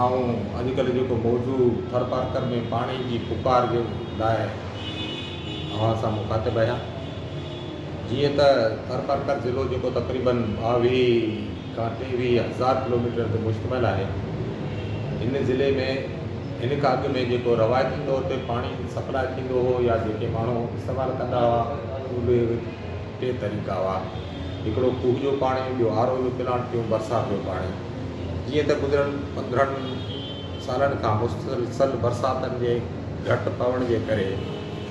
آئون اڄ ڪلهه جيڪو موضوع ٿر پارڪر ۾ پاڻي جي پڪار جي لاء اوهان سان مخاطب آهيان جيئن ته ٿر پارڪر ضلعو جيڪو تقريبن ٻاويهه کان ٽيويهه هزار ڪلوميٽر تي مشتمل آهي هن ضلعي ۾ هن کان اڳ ۾ جيڪو روايتي طور تي پاڻي سپلاء ٿيندو هو يا جيڪي ماڻهو استعمال ڪندا هئا اهي ٽي طريقا هئا. هڪڙو کوهه جو پاڻي، ٻيو آر او جو پلانٽ، ٽيون برسات جو پاڻي. جيئن ته گذريل پندرهن سالن کان مسلسل برساتن جي گهٽ پوڻ جي ڪري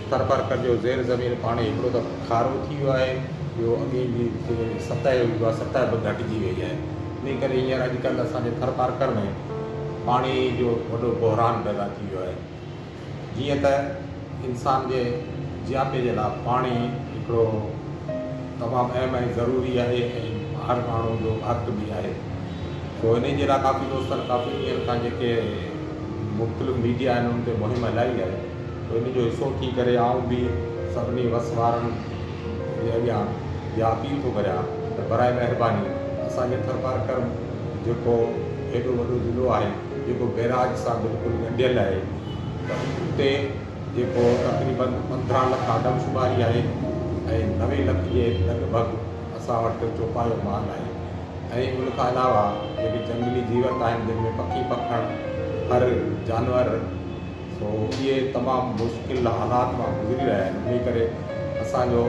ٿرپارڪر جو زير زمين پاڻي هڪڙو ته کارو ٿي ويو آهي، ٻيو اڳي جي جيڪي سطح هئي اها سطح به گهٽجي وئي آهي. انهي ڪري هينئر اڄڪلهه اسان جي ٿرپارڪر ۾ پاڻي جو وڏو بحران پيدا ٿي ويو آهي. جيئن ته انسان جي جياپي جي لاء پاڻي هڪڙو تمام اهم ۽ ضروري آهي ۽ هر ماڻهو جو حق به آهي سو انهي جي لاء ڪافي دوستن ڪافي ڏينهن کان جيڪي مختلف ميڊيا آهن ان تي مهم هلائي آهي سو ان جو حصو ٿي ڪري آئون به سڀني وس وارن جي اڳيان اها اپيل ٿو ڪريان ته براء مهرباني اسان جي ٿرپارڪر جيڪو هيڏو وڏو ضلعو آهي جيڪو بئراج سان بلڪل ڳنڍيل آهي ته اتي جيڪو تقريبن پندرهن لک آدمشماري آهي ۽ نوي لک جي لڳ ڀڳ اسان وٽ چوپايو مال آهي ۽ ان کان علاوه جيڪي جهنگلي جيوت آهن جن ۾ پکي پکڻ ڦر جانور سو اهي تمام مشڪل حالات مان گذري رهيا آهن انهي ڪري اسان جو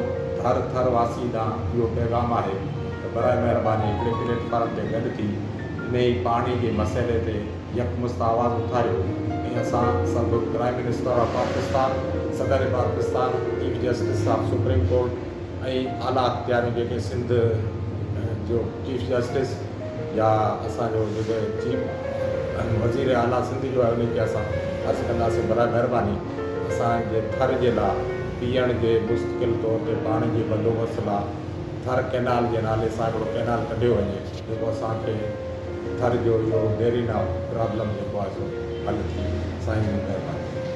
هر ٿر واسين ڏانهن اهو پيغام آهي ته براء مهرباني هڪڙي پليٽ فارم تي گڏ ٿي انهي پاڻي جي مسئلي تي يڪمشت آواز اٿاريو ۽ اسان سڀ پرائيم منسٽر آف پاڪستان صدر Pakistan chief justice of supreme court ۽ اعليٰ اختياريون جيڪي سنڌ جو چيف جسٽس يا اسان جو جيڪي چيف ۽ وزير اعليٰ سنڌ جو آهي ان کي اسان عرض ڪنداسين برائي مهرباني اسان جي ٿر جي لاء پيئڻ جي مستقل طور تي پاڻي جي بندوبست لاء ٿر ڪئنال جي نالي سان هڪڙو ڪئنال ڪڍيو وڃي جيڪو اسان کي ٿر جو اهو ديرينا پرابلم جيڪو آهي سو حل ٿي وڃي سائين جي مهرباني.